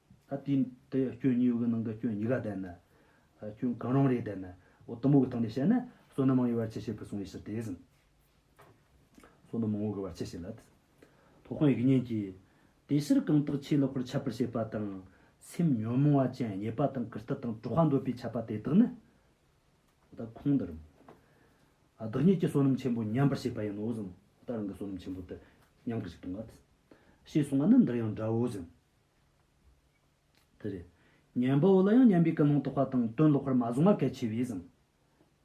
ད་དུས་དེ་སྐྱོན་ཉི་འོད་ཀྱི་ནང་གི་སྐྱོན་ཉི་ག་བསྡད་ན། སྐྱོན་གང་རུང་རེ་བསྡད་ན། འོ་དུམ་བུ་གྱི་སྟེང་ནས་བཤད་ན། བསོད་ནམས་མང་བའི་བར་ཆད་བྱེད་པར་གསུངས་པའི་ཕྱིར་དེ་བཞིན། བསོད་ནམས་མང་བོ་གི་བར་ཆད་བྱེད་ལ། ཐོག་ཁང་ཡིག་བརྙན་གྱིས། དེ་ཕྱིར་གང་དག་ཆོས་ལོག་པར་འཆབ་པར་བྱེད་པ་དང། སེམས་ཉོན་མོངས་བ་ཅན་ཉེས་པ་དང་གུར་སྟི་དང་དྲུག་ཧ་འདོད་པས་འཆབ་པ་དེ་དག་ནི། ད་ཁོང་འདི་རུ། བདག་ཉིད་ཀྱི་བསོད་ནམས་ཆེན་པོ་ཉམས་པར་བྱེད་པ་ཡིན་ནོ་ཞིང། བདག་རང་གི་བསོད་ནམས་ཆེན་པོ་དེ། ཉམས་ཀྱི་ཞིག་ཏུ་འགལ། ཞེས་གསུངས་པ་ནི་འདིར་ཡང་འདྲའོ་ཞིང། དེ་རེད། གཉེན་པོ་བོ་ལ་ཡང་གཉེན་པའི་ཀུན་སློང་རྟོགས་པ་དང་དོན་ལོག་པར་མ་བཟུང་བ་གལ་ཆེ་བས་བཟང།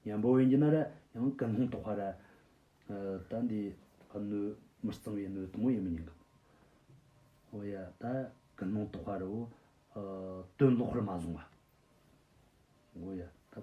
གཉེན་པོ་བོན་གྱི་ན་རེ་ཡང་ཀུན་སློང་རྟོགས་པ་རེད། ད་འདི་སྣོད་མི་གཙང་བའི་སྣོད་དང་པོ་ཡིན་མི་ཉན་གི། ཨོ་ཡ། ད་ཀུན་སློང་རྟོགས་པ་རེད་བོ། དོན་ལོག་པར་མ་བཟུང་བ། ཨོ་ཡ། ད།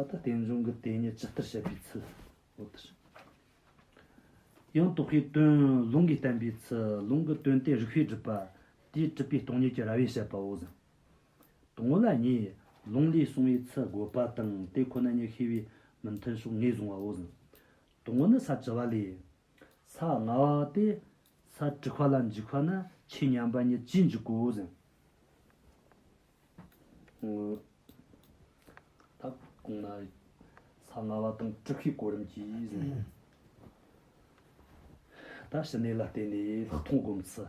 བ་དང་རྟེན་འབྱུང་གི་དེ་ཉིད་ཇི་ལྟར་བཤད་པའི་ཚུལ་ལོ། དེ་བཞིན་ཡང་རྟོག་གེའི་དོན་ལུང་གིས་བསྟན་པའི་ཚུལ་ལུང་གི་དོན་ཏེ་རིགས་པས་སྒྲུབ་པ་དེའི་སྒྲུབ་པའི་སྟོང་ཉིད་ཀྱི་ར་བས་བཤད་པའོ། ཟིན་ཐོ་ལ་གཉིས་ལུང་ལས་གསུངས་པའི་ཚུལ་དགོས་པ་དང་དེ་ཁོ་ན་ཉིད་ཤེས་པའི་མི་མཐུན་ཕྱོགས་ངེས་བཟུང་བའོ། ཟིན་དུ་ངོ་ནི་ས་བྱི་བ་ལས། ས་ལྔ་བ་སྟེ། ས་དྲུག་བ་ལ་འཇིག་བ་ནི་ཆོས་མཉམ་པ་ཉིད་ཀྱིས་འཇིག་གོ། ས་ལྔ་བ་དང་དྲུག་གིས་གོ་རིམས་ཀྱིས། ད་ཕྱི་གནས་ལ་བརྟེན་ནས་ལྷག་མཐོང་སྒོམ་ཚུལ།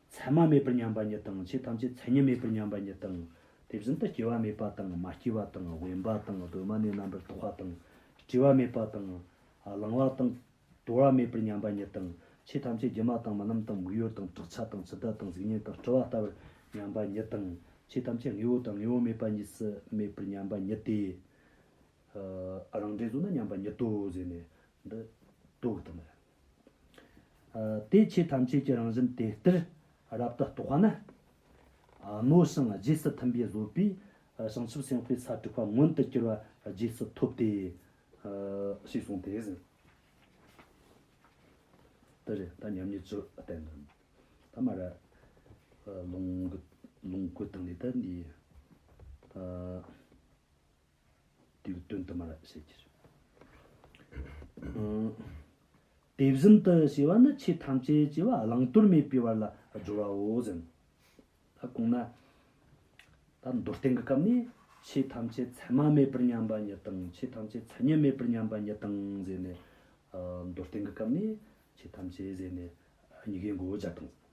མཚན་མ་མེད་པར་མཉམ་པ་ཉིད་དང་ཆོས་ཐམས་ཅད་མཚན་ཉིད་མེད་པར་མཉམ་པ་ཉིད་དང། དེ་བཞིན་དུ་སྐྱེ་བ་མེད་པ་དང་མ་སྐྱེས་པ་དང་དབེན་པ་དང་གདོད་མ་ནས་རྣམ་པར་རྟོག་པ་དང་སྐྱེ་བ་མེད་པ་དང། བླང་བ་དང། དོར་བ་མེད་པར་མཉམ་པ་ཉིད་དང་ཆོས་ཐམས་ཅད་སྒྱུ་མ་དང་རྨི་ལམ་དང་མིག་ཡོར་དང་བྲག་ཆ་དང་ཚོད་ལྟ་དང་གཟུགས་བརྙན་དང་སྤྲོ་བ་ལྟ་བུར་མཉམ་པ་ཉིད་དང། ཆོས་ཐམས་ཅད་དངོས་པོ་དང་དངོས་པོ་མེད་པ་གཉིས་སུ་མེད་པར་མཉམ་པ་ཉིད་དེ། རང་འབྲས་གཟུགས་ན་མཉམ་པ་ཉིད་དོ་ཟེར་ནས། འདི་རྟོག་གི་དོན་མ་རེད། དེ་ཆོས་ཐམས་ཅད་ཀྱི་རང་བཞིན་དེ་ལྟར་རབ་ཏུ་རྟོགས་ན། མནོ་ཞིང་རྗེས་སུ་མཐུན་པའི་བཟོད་པས་བྱང་ཆུབ་སེམས་དཔའི་ས་དྲུག་པ་མངོན་དུ་གྱུར་པ་རྗེས་སུ་ཐོབ་སྟེ། ཞེས་གསུངས་ཏེ། དེ་རེད་ད་མཉམ་ཉིད་ཆོས་བསྟན་དོན་དུ་མ་རེད། ལོངས་སྐུ་དང་ལས་དང་འདི། དེ་ལ་དོན་དུ་མ་རབ་བྱེད་ཀྱི། དེ་བཞིན་དུ་ཞེས་པ་ནི་ཆོས་ཐམས་ཅད་ཅེས་པ་བླང་དོར་མེད་པའི་བར་ལ་སྦྱོར་བའོ་ཟེར་ནོ། ད་གོང་ན། ད་མདོར་བསྟན་གྱི་སྐབས་ནས་ཆོས་ཐམས་ཅད་མཚན་མ་མེད་པར་མཉམ་པ་ཉིད་དང་ཆོས་ཐམས་ཅད་མཚན་ཉིད་མེད་པར་མཉམ་པ་ཉིད་དང་ཟེར་ནས། མདོར་བསྟན་གྱི་སྐབས་ནས་ཆོས་ཐམས་ཅད་ཟེར་ནས་གཉི་གའི་མགོ་བོ་བརྒྱ་དང།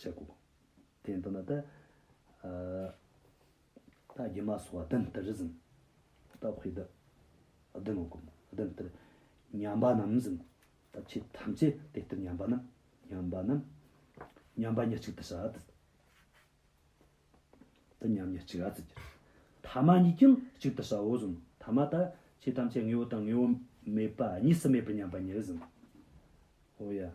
ཞེས་བསྒོ། དེའི་མདུན་ན་ཏདྱ། ཏདྱ་མ་སོགས་བདུན་ལྟར་བཟུང། ཏདྱ་ཧུད་ཏདྱ་བདུན་ལ་བསྒོམ། བདུན་ལྟར་ཉམས་པ་རྣམས་བཟུང། ཏདྱ་ཕྱིས་ཐམས་ཅད་དེ་ལྟར་ཉམས་པ་རྣམས། ཉམས་པ་རྣམས། ཉམས་པ་ཉེར་གཅིག་ཏདྱ་ཏདྱ། ཏདྱ་ཉམས་ཉེར་གཅིག་ཏདྱ། ཐ་མ་གཉིས་ཀྱང་གཅིག་ཏུ་བྱའོ་བཟུང། ཐ་མ་ཏདྱ་ཕྱིས་ཐམས་ཅད་དངོས་པོ་དང་དངོས་པོ་མེད་པ་གཉིས་སུ་མེད་པར་ཉམས་པ་ཉེར་བཟུང། ཧོ། ཡང་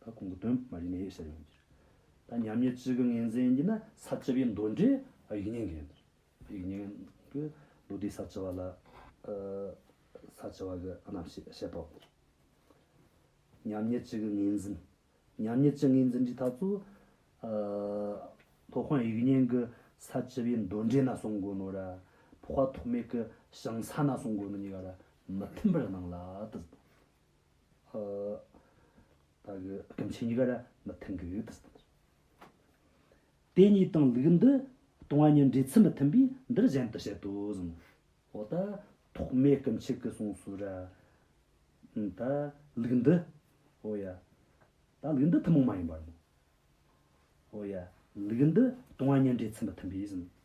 ད་གོང་གི་དོན་མ་རིག་གནས་ཡོད་ཟེར་ཡོང་གིར། ད་ཉམས་ཉེས་ཅི་གི་ངན་ཟེར་གྱིན་ན་ས་བཅུ་པའི་མདོ་འགྲེལ་ཡིག་རྙིང་གི། ཡིག་རྙིང་གི། ལུགས་འདིའི་ས་བཅུ་བ་ལ། ས་བཅུ་བ་གི་རྣམ་བཤད་བཤད་དོ། ཉམས་ཉེས་ཅི་གི་ངན་འཛིན། ཉམས་ཉེས་ཅི་ངན་འཛིན་གྱི་ཐ་ཚུ། ཐོག་ཁང་ཡིག་རྙིང་གི་ས་བཅུ་པའི་མདོ་འགྲེལ་ན་གསུངས་དགོས་ནོ་ར། ཕོག་པ་ཐོག་མེད་གི་ཞིང་ས་ན་གསུངས་དགོས་ནོ་གཉིས་ཀ་ར་མི་མཐུན་པར་སྣང་ལ། སྐྱོན་ཆེན་གཉིས་ཀ་ར་མི་མཐུན་གི་ཡུལ་དུ་སྟོན་ཞིང། དེ་གཉིས་དང་ལུགས་འདི་སྟོང་བ་གཉིས་འབྲེལ་ཚུལ་མི་མཐུན་པས་འདིར་གཞན་དུ་བཤད་དོ་གསུངས། འོ་ད་ཐོག་མའི་སྐྱོན་ཆེ་གི་གསུངས་སོ་ར། ད་ལུགས་འདི། འོ་ཡ། ད་ལུགས་འདི་ཐུན་མོང་མ་ཡིན་པར། འོ་ཡ། ལུགས་འདི་སྟོང་བ་གཉིས་འབྲེལ་ཚུལ་མི་མཐུན་པས་གསུངས།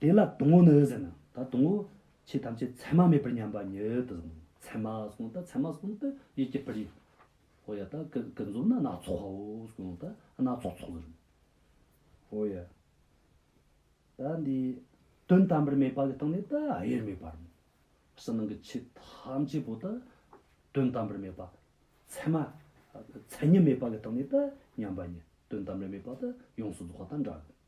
དེ་ལ་དུང་བོ་ནི་ཟེར། ད་དུང་བོ། ཆོས་ཐམས་ཅད་མཚན་མ་མེད་པར་མཉམ་པ་ཉིད་དུ། མཚན་མ་གསུངས་ད་མཚན་མ་གསུངས་ད་ཡིད་ཀྱི་པར་ཡིན། ཧོ་ཡ་ད་ཀུན་རྫོབ་ན་སྣ་ཚོགས་པའོ་གསུངས་ད་སྣ་ཚོགས་ཚོགས་ཟེར། ཧོ་ཡ། ད་འདི། དོན་དམ་པར་མེད་པ་གི་སྟེང་ནས་ད་དབྱེར་མེད་པར། ཕྱི་ནང་གི་ཆོས་ཐམས་ཅད་པོ་ད། དོན་དམ་པར་མེད་པ། མཚན་མ། མཚན་ཉིད་མེད་པ་གི་སྟེང་ནས་ད་མཉམ་པ་ཉིད་དོན་དམ་པར་མེད་པ་ད་ཡོངས་སུ་རྫོགས་པ་དང་འདྲ།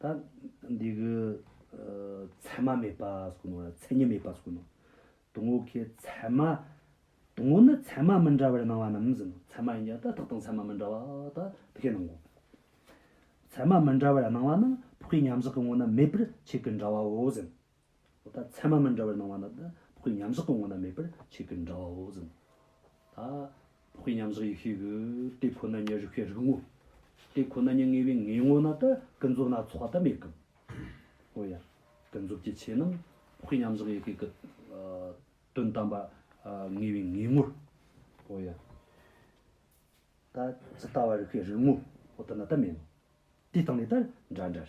ད་འདི་གི་ཚད་མ་མེད་པ་སོགས་ནོ། ཚད་མྱེད་མེད་པ་སོགས་ནོ། དུང་བོ་ཁའི་ཚད་མ། དུང་བོ་ནི་ཚད་མ་མི་འདྲ་བར་སྣང་བ་རྣམས་ཟིན་ནོ། ཚད་མ་ཡིན་ཀྱང་ད་ཐག་དང་ཚད་མ་མི་འདྲ་བ་ད་ཕི་ཁའི་སྣང་ངོ། ཚད་མ་མི་འདྲ་བར་སྣང་བ་ནི་ཕུག་ཁའི་མཉམ་གཞག་གི་ངོ་ན་མེད་པར་ཆེད་ཀྱི་འདྲ་བའོ་ཟིན། ད་ཚད་མ་མི་འདྲ་བར་སྣང་བ་ན་ད་བོགས་ཀྱི་མཉམ་གཞག་གི་ངོ་ན་མེད་པར་ཆོས་ཀྱི་འདྲ་བའོ་ཟིན། ད་བོགས་ཀྱི་མཉམ་གཞག་ཡེ་ཤེས་ཀྱི་དེ་ཁོ་ན་ཉིད་རིག་པའི་རིག་ངོ། དེ་ཁོ་ན་ཉིད་ངེས་པའི་ངེས་ངོ་ན་ད་ཀུན་རྫོབ་སྣ་ཚོགས་ད་མེད་ཀྱི། འོ་ཡ། ཀུན་རྫོབ་ཀྱི་ཆོས་རྣམས་བོགས་ཀྱི་མཉམ་གཞག་ཡེ་ཤེས་ཀྱི། དོན་དམ་པ། ངེས་པའི་ངེས་ངོ། འོ་ཡ། ད་ཇི་ལྟ་བ་རིག་པའི་རིག་ངོ། འོ་ད་ན་ད་མེད་ནོ། དེ་སྟེང་ནས་ད་འདྲ་འདྲར།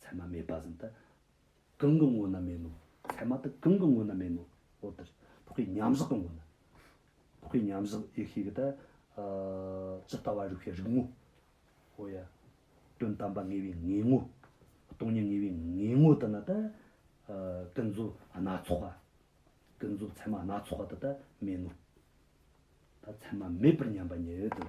ཚད་མ་མེད་པ་བཞིན་དུ། གང་གི་ངོ་ན་མེད་ནོ། ཚད་མ་དེ་གང་གི་ངོ་ན་མེད་ནོ། འོ་དེར་ཐོག་གི་མཉམ་གཞག་གི་ངོ་ན། ཐོག་གི་མཉམ་གཞག་ཡེ་ཤེས་ཀྱི་དེ། ཇི་ལྟ་བ་རིགས་པའི་རིགས་ངོ། འོ་ཡ། དོན་དམ་པ་ངེས་པའི་ངེས་ངོ། སྟོང་ཉིད་ངེས་པའི་ངེས་ངོ་དེ་ནི་དེ། ཀུན་རྫོབ་སྣ་ཚོགས་པ། ཀུན་རྫོབ་ཚད་མ་སྣ་ཚོགས་པ་དེ་དེ་མེད་ནོ། ད་ཚད་མ་མེད་པར་མཉམ་པ་ཉིད་དེ།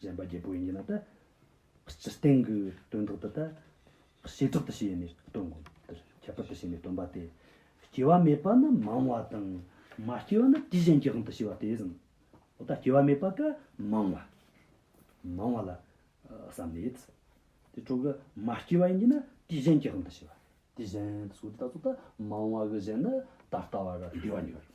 གཞན་པ་བརྒྱད་པོ་ཡིན་གྱི་ན་ད། སྤྱིར་བསྟན་གྱི་དོན་དག་འདི་ད། བྱེ་བྲག་ཏུ་བྱས་ནས་སྟོན་དགོས། འདིར་ཁྱད་པར་དུ་བྱས་ནས་སྟོན་པ་སྟེ། སྐྱེ་བ་མེད་པ་ནི་མང་བ་དང། མ་སྐྱེས་པ་ནི་དུས་གཞན་གྱི་དབང་དུ་བྱས་པ་དེ་བཞིན། འོ་ད་སྐྱེ་བ་མེད་པ་ཀ་མང་བ། མང་བ་ལ། བསམ་ནས། དེ་ཁྲོ་གི་མ་སྐྱེས་པ་ཡིན་གྱི་ན་དུས་གཞན་གྱི་དབང་དུ་བྱས་པ། དུས་གཞན། སོ་སོ་ད་ཚོགས་ད་མང་བ་གི་གཞན་ནི་ད་ལྟ་བ་ལ་འདུས་པ་ཉིད་རེད།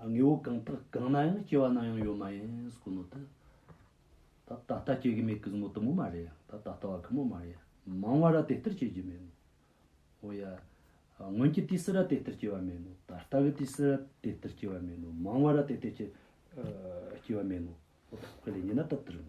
དངོས་པོ་གང་དག་གང་ན་ཡང་སྐྱེ་བ་སྣང་ཡང་ཡོད་མ་ཡིན་སྐུ་ནོ་ད། ད་ད་ལྟ་སྐྱེ་གི་མེད་གི་བཟང་མོ་དུ་མོ་མ་རེད་ཡ་ད་ད་ལྟ་བ་གི་མོ་མ་རེད་ཡ་མང་བ་ར་དེ་ལྟར་སྐྱེ་གི་མེད་ནོ། འོ་ཡ། སྔོན་གྱི་དུས་སུ་ར་དེ་ལྟར་སྐྱེ་བ་མེད་ནོ་ད་ལྟ་གི་དུས་སུ་ར་དེ་ལྟར་སྐྱེ་བ་མེད་ནོ་མང་བ་ར་དེ་ལྟར་སྐྱེ། སྐྱེ་བ་མེད་ནོ། འོ་ད་ཁོས་ལས་ཉན་ན་ད་ལྟར་ནོ།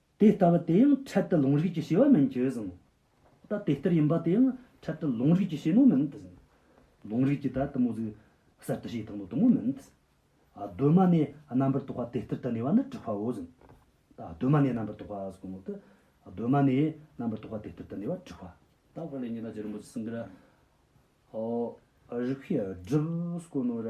དེ་ལྟ་བུ་དེ་ཡང་འཕྲལ་དུ་ལུང་རིགས་ཀྱི་བྱེད་པ་མིན་གྱི་གཟིངས། ད་དེ་ལྟར་ཡིན་པ་དེ་ཡང་འཕྲལ་དུ་ལུང་རིགས་ཀྱི་བྱེད་མོ་མིན་ཏེ། ལུང་རིགས་ཀྱི་ད་དུམ་བུ་ཟིག། གསར་དུ་བྱས་དང་དུ་དུམ་བུ་མིན་ཏེ། གདོད་མ་ནས་རྣམ་པར་རྟོག་པ་དེ་ལྟར་དུ་གནས་པ་ནི་གྲུབ་པའོ་གཟིངས། ད་གདོད་མ་ནས་རྣམ་པར་རྟོག་པ་གཟིགས་མོ་སྟེ། གདོད་མ་ནས་རྣམ་པར་རྟོག་པ་དེ་ལྟར་དུ་གནས་པ་གྲུབ་པ། ད་བར་ལས་ཉི་མ་ཅི་རིན་པོ་ཆེ་གསུང་གི་ར། རིགས་པས་བསྒྲུབས་གོ་ནོ་ར།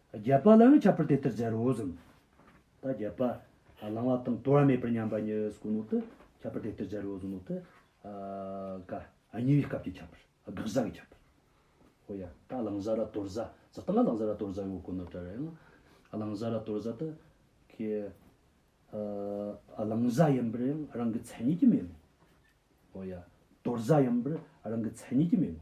བརྒྱད་པ་ལ་ཡང་ཁྱབ་པར་དེ་ལྟར་སྦྱར་རོ། གསུམ་པ་བརྒྱད་པ། བླང་བ་དང་དོར་བ་མེད་པར་མཉམ་པ་ཉིད་སྐུ་ནོ་ཏི་ཁྱབ་པར་དེ་ལྟར་སྦྱར་རོ། གསུམ་ནོ་ཏི། ཀ། ཉེ་བའི་སྐབས་ཀྱི་ཁྱབ་པར། དགག་བྱ་གི་ཁྱབ་པར། ཧོ། ཡང་དག་བླང་བྱ་ལ་དོར་བྱ་ཙི་ཏི་ལ་བླང་བྱ་ལ་དོར་བྱ་ཡོད་སྐུ་ནོ་ཏི་རེ་ཡང། བླང་བྱ་ལ་དོར་བྱ་ཏི་ཀའི། བླང་བྱ་ཡིན་པར་ཡང་རང་གི་མཚན་ཉིད་ཀྱིས་མེད་ནོ། ཧོ། ཡང་དོར་བྱ་ཡིན་པར་རང་གི་མཚན་ཉིད་ཀྱིས་མེད་ནོ།